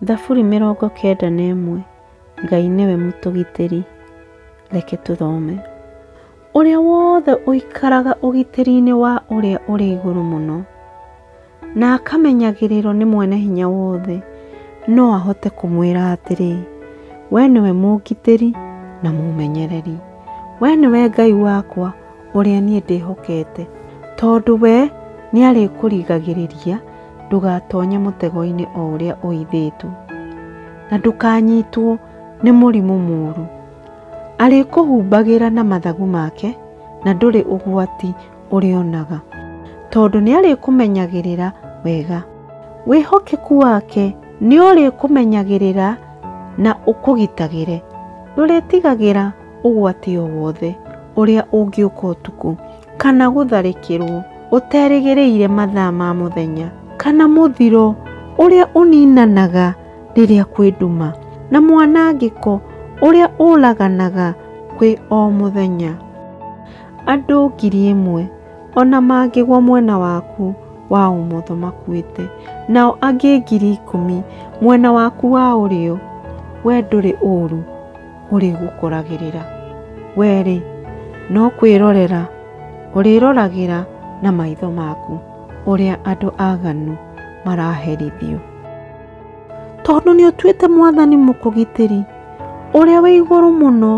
Thaburi mĩrongo kenda na ĩmwe Ngai nĩwe mũtũgitĩri Reke tũthome Ũrĩa wothe ũikaraga ũgitĩri-inĩ wa Ũrĩa Ũrĩ Igũrũ Mũno na akamenyagĩrĩrwo nĩ Mwene Hinya Wothe no ahote kũmwĩra atĩrĩ, We nĩwe mũngitĩri na mũmenyereri. We nĩwe Ngai wakwa ũrĩa niĩ ndĩhokete, tondũ we nĩarĩkũrigagĩrĩria ndũgatonye mũtego-inĩ o ũrĩa ũithĩtwo, na ndũkanyitwo nĩ mũrimũ mũũru. Arĩkũhumbagĩra na mathagu make, na ndũrĩ ũgwati ũrĩonaga, tondũ nĩarĩkũmenyagĩrĩra wega. Wĩhokeku wake nĩũrĩkũmenyagĩrĩra na ũkũgitagĩre, ndũrĩtigagĩra. ũgwati o wothe ũrĩa ũngĩũka ũtukũ, kana gũtharĩkĩrũo ũterĩgĩrĩire mathaa ma mũthenya, kana mũthiro ũrĩa ũninanaga rĩrĩa kwĩ nduma, na mwanangĩko ũrĩa ũraganaga kwĩ o mũthenya. Andũ ngiri ĩmwe o na mangĩgwa mwena waku wa ũmotho makuĩte, nao angĩ ngiri ikũmi mwena waku wa ũrĩo, wee ndũrĩ ũũru. ũrĩgũkoragĩrĩra. Wee-rĩ, no kwĩrorera ũrĩroragĩra na maitho maku ũrĩa andũ aganu maraherithio. Tondũ nĩ ũtuĩte mwathani mũkũgitĩri, ũrĩa wĩ igũrũ mũno,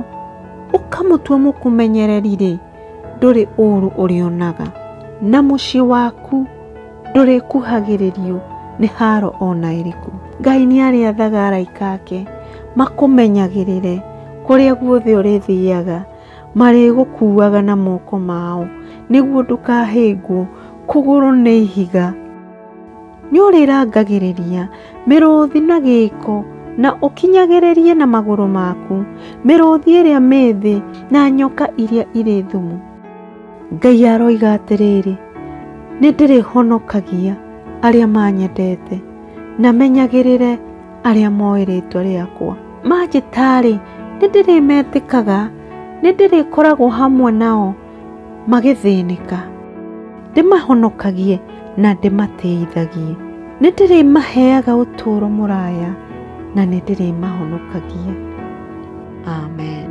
ũkamũtua mũkũmenyereri-rĩ, ndũrĩ ũũru ũrĩonaga, na mũciĩ waku Ndũrĩkuhagĩrĩrio nĩ haaro o na ĩrĩkũ. Ngai nĩarĩathaga araika ake makũmenyagĩrĩre kũrĩa guothe ũrĩthiaga, marĩgũkuuaga na moko mao, nĩguo ndũkahĩngwo kũgũrũ nĩ ihiga. Nĩũrĩrangagĩrĩria mĩrũũthi na gĩĩko, na ũkinyagĩrĩrie na magũrũ maku mĩrũũthi ĩrĩa mĩĩthĩ na nyoka iria irĩ thumu. Ngai aroiga atĩrĩrĩ, nĩndĩrĩhonokagia arĩa manyendete, na menyagĩrĩre arĩa moĩ rĩtwa rĩakwa. Manjĩtarĩ, nĩndĩrĩmetĩkaga, nĩndĩrĩkoragwo hamwe nao magĩthĩnĩka, ndĩmahonokagie na ndĩmatĩithagie. Nĩndĩrĩmaheaga ũtũũro mũraya, na nĩndĩrĩmahonokagia. Amen.